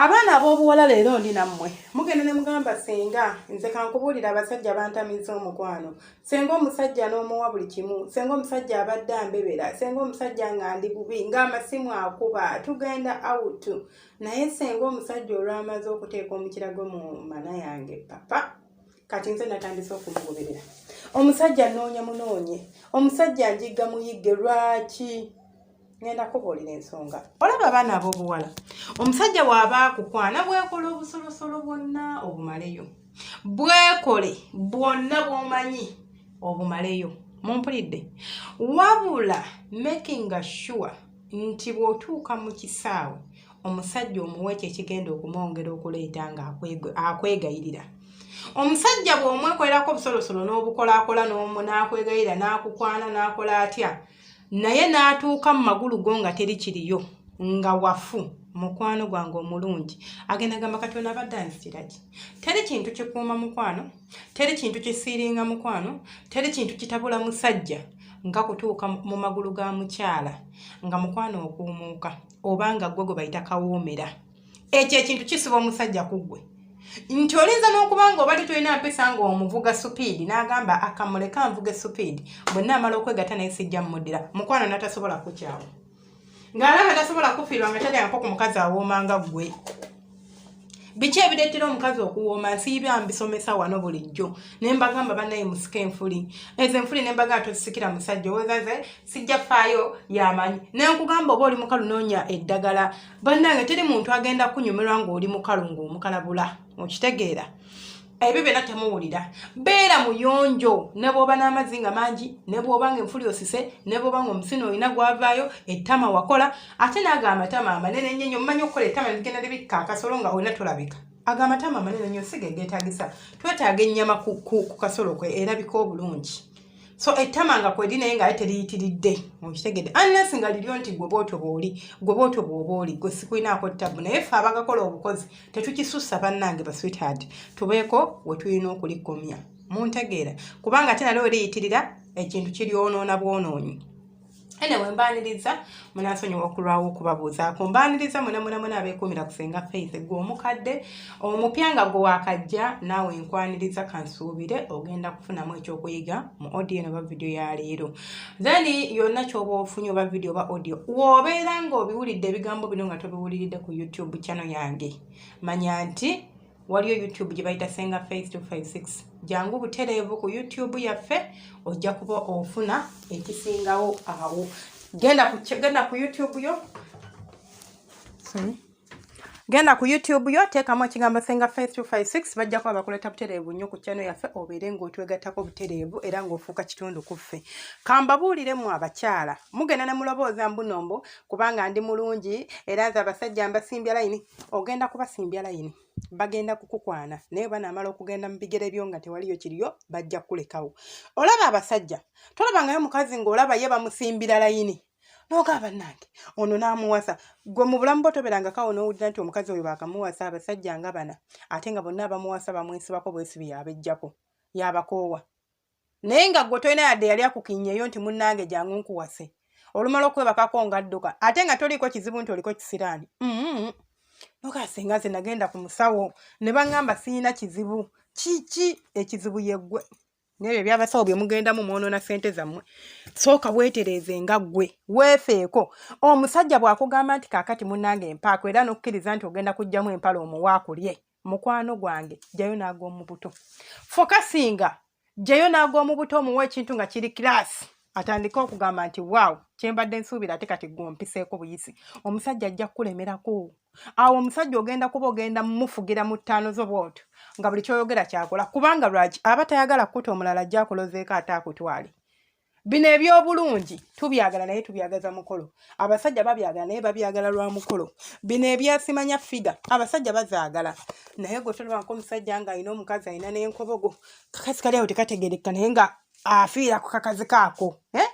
abaana ab'obuwala leero ndi nammwe mugenda ne mugamba senga nze kankubuulira abasajja bantamiza omukwano senga omusajja n'omuwa buli kimu senga omusajja abadde ambebera senga omusajja nga ndi bubi ng'amasimu akuba tugenda awutu naye senga omusajja olwamaze okuteeka omukira gwe mu mana yange papa kati nze natandise okumugoberera omusajja noonya munoonye omusajja njigga muyigge lwaki ngenda kubuulira ensonga olaba abaana ab'obuwala omusajja waaba akukwana bwekola obusolosolo bwonna obumaleyo bwekole bwonna bwomanyi obumaleyo mumpulidde wabula making sure nti bw'otuuka mu kisaawe omusajja omuwa ekyo ekigenda okumwongera okuleeta ng'akwegayirira omusajja bw'omwekolerako obusolosolo n'obukolakola n'omu n'akwegayirira n'akukwana n'akola atya naye n'atuuka mu magulu go nga teri kiriyo nga wafu mukwano gwange omulungi agenda gamba kati ono abadde anzitira ki teri kintu kikuuma mukwano teri kintu kisiiringa mukwano teri kintu kitabula musajja nga kutuuka mu magulu ga mukyala nga mukwano okuumuuka oba nga ggwe gwe bayita kawoomera ekyo ekintu kisiba omusajja ku ggwe nti olinza n'okuba nga obadde tolina mpisa nga omuvuga supiidi n'agamba akamuleka nvuga esupiidi bwe naamala okwegata naye sijja mmuddira mukwano natasobola kukyawa ng'alaba tasobola kufiirwa nga talyangako ku mukazi awooma nga ggwe biki ebireetera omukazi okuwooma nsiibya mbisomesa wano bulijjo ne mbagamba bannaye musika enfuli ezo enfuli ne mbagamba tozisikira musajja owezaze sijja faayo yamanyi naye nkugamba oba oli mukalu noonya eddagala bannange teri muntu agenda kunyumirwa ng'oli mukalu ng'omukalabula okitegeera ebyo byona temuwulira beera muyonjo nebwoba n'amazzi nga mangi nebwoba nga enfuli osise nebwoba nga omusina olina gwavaayo ettama wakola ate naago amatama amanene ennyo nyo mumanyi okukola ettama ligenda libikka akasolo nga olina tolabika ago amatama amanene nyo siga egeetagisa twetaaga ennyama ku kasolo kwe erabika obulungi so ettama nga kweri naye ngaye teriyitiridde okitegedde annes nga liryo nti gwe bootyo booli gwe bootyo bwoba oli gwe sikulinaako ttabu naye ffe abagakola obukozi tetukisussa bannange baswithard tubeeko we tulina okulikomya muntegeera kubanga ate naleo liyitirira ekintu kiryonoona bwonoonyi anyway mbaniriza munasonyiwa okulwawo okubabuuzaako mbaniriza munamunamuna abeekuumira kusenga faith gwe omukadde omupya nga gwe wakajja naawe nkwaniriza kansuubire ogenda kufunamu ekyokuyiga mu audio eno oba vidiyo ya leero then yonna kyoba ofunye oba vidiyo oba audio wobeera nga obiwulidde ebigambo bino nga tobiwuliridde ku youtube channel yange manya nti waliyo youtube gye bayita senga face 256 jangu butereevu ku youtube yaffe ojja kuba ofuna ekisingawo awo genda ku genda ku youtube yo genda ku youtube yo teekamu ekigambo senga face 256 bajja kuba bakuleeta butereevu nnyo ku kyano yaffe obeere ng'otwegattako butereevu era ng'ofuuka kitundu ku ffe kambabuulire mu abakyala mugenda ne mulobooza mbunombo kubanga ndi mulungi era nze abasajja mbasimbya layini ogenda kubasimbya layini bagenda kukukwana naye banaamala okugenda mu bigere byo nga tewaliyo kiriyo bajja kukulekawo olaba abasajja tolabangayo omukazi ng'olaba ye bamusimbira layini nogamba nange ono n'amuwasa gwe mu bulamu bwo toberanga kawo n'owulira nti omukazi oyo baakamuwasa abasajja nga bana ate nga bonna abamuwasa bamwesibako bwesibi yabejjako yabakoowa naye nga gwe tolina yadde yali akukinyeyo nti munnange jangu nkuwase olumala okwebakako nga dduka ate nga toliiko kizibu nti oliko kisiraani mm-hmm. nokasinga ze nagenda ku musawo ne baŋŋamba siyina kizibu kiki ekizibu yeggwe nebyo ebyabasawo bye mugendamu mwonoona ssente zammwe sooka weetereeze nga ggwe weefeeko omusajja bw'akugamba nti kaakati munnange empaako era n'okukkiriza nti ogenda kuggyamu empala omuwaakulye mukwano gwange jayo nag'omubuto fokasinga jayo nag'omubuto omuwa ekintu nga kiri kilaasi atandike okugamba nti waawo kyembadde nsuubira ate kati gwompiseeko buyisi omusajja ajja kukulemerako awo omusajja ogenda kuba ogenda mumufugira mu ttaano zo bwotyo nga buli kyoyogera kyakola kubanga lwaki aba tayagala kukuta omulala ajja akulozeeko ate akutwale bino ebyobulungi tubyagala naye tubyagaza mukolo abasajja babyagala naye babyagala lwa mukolo bino ebyasimanya figa abasajja bazaagala naye gwe tolwanko omusajja nga alina omukazi alina nenkobogo kakazi kali awo tekategerekka naye nga afiira ku kakazi kaako eh?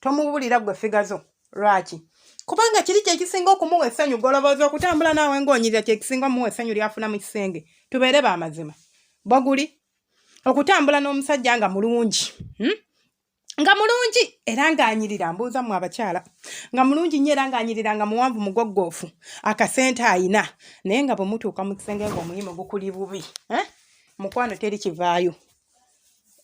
tomubulira gwe figa zo lwaki kubanga kiri kyekisinga okumuwa essanyu golobooza okutambula naawe ngaonyirira kyekisinga omuwa essanyu lyafuna mu kisenge tubeere bamazima bwaguli okutambula n'omusajja nga mulungi hmm? nga mulungi era ng'anyirira mbuuza mu abakyala nga mulungi nnyo era ng'anyirira nga muwanvu mugoggoofu akasente ayina naye nga bwe mutuuka mu kisenge ng'omuyimu gukuli bubi eh? mukwano teri kivaayo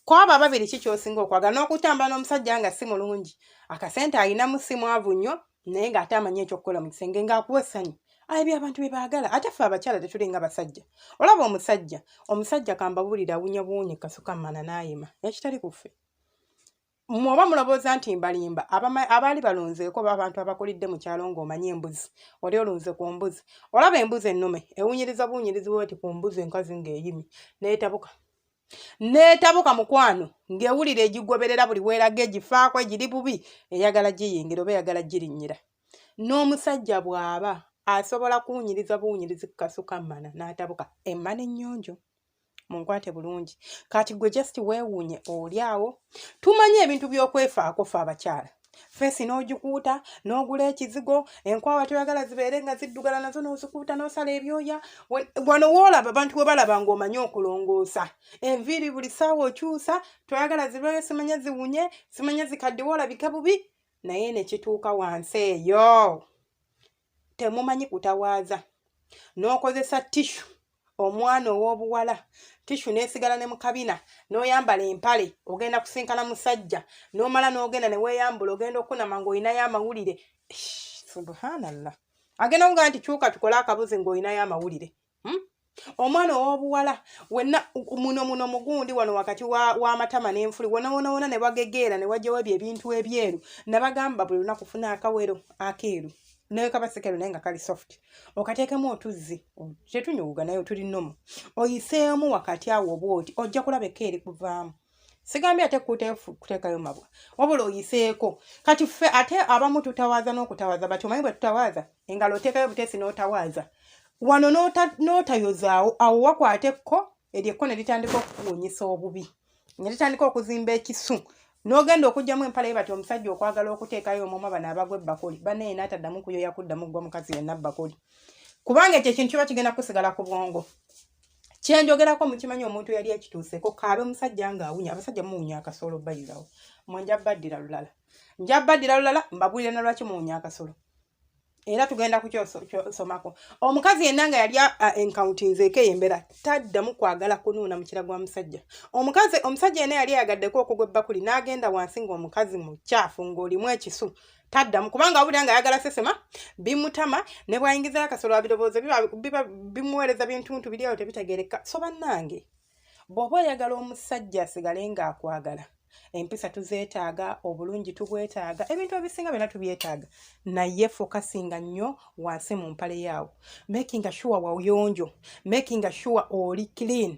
kwabo ababiri ki kyosinga okwagala n'okutambula n'omusajja nga si mulungi akasente alinamu si mwavu nnyo naye ng'ate amanyi ekyokukola mu kisenge ng'akuwa essanyu aye byabantu bye baagala ate ffe abakyala tetuli nga basajja olaba omusajja omusajja kambabuulira awunya buwunyi kasuka mana naayima ekitali ku ffe mwoba mulowooza nti mbalimba abaali balonzeeko abantu abakulidde mu kyalo ng'omanyi embuzi oli olunze ku mbuzi olaba embuzi ennume ewunyiriza buwunyirizi bweti ku mbuzi enkazi ng'eyimi neetabuka neetabuka mukwano ng'ewulira egigoberera buli weeraga egifaako egiri bubi eyagala giyingira oba eyagala girinnyira n'omusajja bw'aba asobola kuwunyiriza buwunyirizi ku kasuka mmana n'atabuka emmana ennyonjo munkwate bulungi kati gwe just weewuunye oli awo tumanyi ebintu by'okwefaako fe abakyala feesi n'ogikuuta n'ogula ekizigo enkwawa toyagala zibeere nga ziddugala nazo n'ozikuuta n'osala ebyoya wano woolaba abantu we balaba ng'omanyi okulongoosa enviiri buli ssaawa okyusa toyagala zibeere simanya ziwunye simanya zikaddiwe olabike bubi naye ne kituuka wansi eyo temumanyi kutawaaza n'okozesa tishu omwana ow'obuwala tishu n'esigala ne mukabina n'oyambala empale ogenda kusinkana musajja n'omala n'ogenda ne weeyambula ogenda okunama ng'olinayo amawulire subhanallah agenda kugaa nti kyuka tukole akabuzi ng'olinayo amawulire hmm? omwana owobuwala wena muno muno mugundi wano wakati wamatama wa nenfuli wonawonawona nebagegeera newajawo ebyo ebintu ebyeru nabagamba buli lunaku funa akawero akeeru naye kabasekero naye nga kali soft okateekemu otuzzi tetunyuwuga naye otuli nomu oyiseemu wakati awo oba oti ojja kulaba eka eri kuvaamu sigambye ate kuteekayo mabwa wabula oyiseeko kati ffe ate abamu tutawaaza n'okutawaaza bati omanyi bwe tutawaaza engalo oteekayo buteesi n'otawaaza wano n'otayozaawo awo wakwata ekko eryo ekko ne litandika okukuwunyisa obubi ne litandika okuzimba ekisu n'ogenda okugyamu empala ye bati omusajja okwagala okuteekayo omwoma bano abagwa ebbakuli banaye n'ataddamu kuyoya kuddamu ggwa mukazi yenna bbakuli kubanga ekyo ekintu kiba kigenda kusigala ku bwongo kyenjogerako mukimanyi omuntu yali ekituuseko kaabe musajja nga awunya abasajja muwunya akasolo bayizawo mwe nja baddira lulala nja baddira lulala mbabulire na lwaki muwunya akasolo era tugenda kukyosomako omukazi yenna nga yali enkauntinzeeko eyo embeera taddamu kwagala kunuuna mukira gwa musajja omukazi omusajja yenna yali ayagaddeku okugwa ebbakuli n'agenda wansi ng'omukazi mukyafu ng'olimu ekisu taddamu kubanga awulira nga ayagala sesema bimutama ne bwayingizayo akasolo abirowooza bimuweereza bintuntu biri awo tebitegeereka so bannange bw'oba oyagala omusajja asigale ng'akwagala empisa tuzeetaaga obulungi tubwetaaga ebintu ebisinga byona tubyetaaga naye fokasinga nnyo wansi mu mpale yaawo makinga sure wayonjo makinga sure oli clean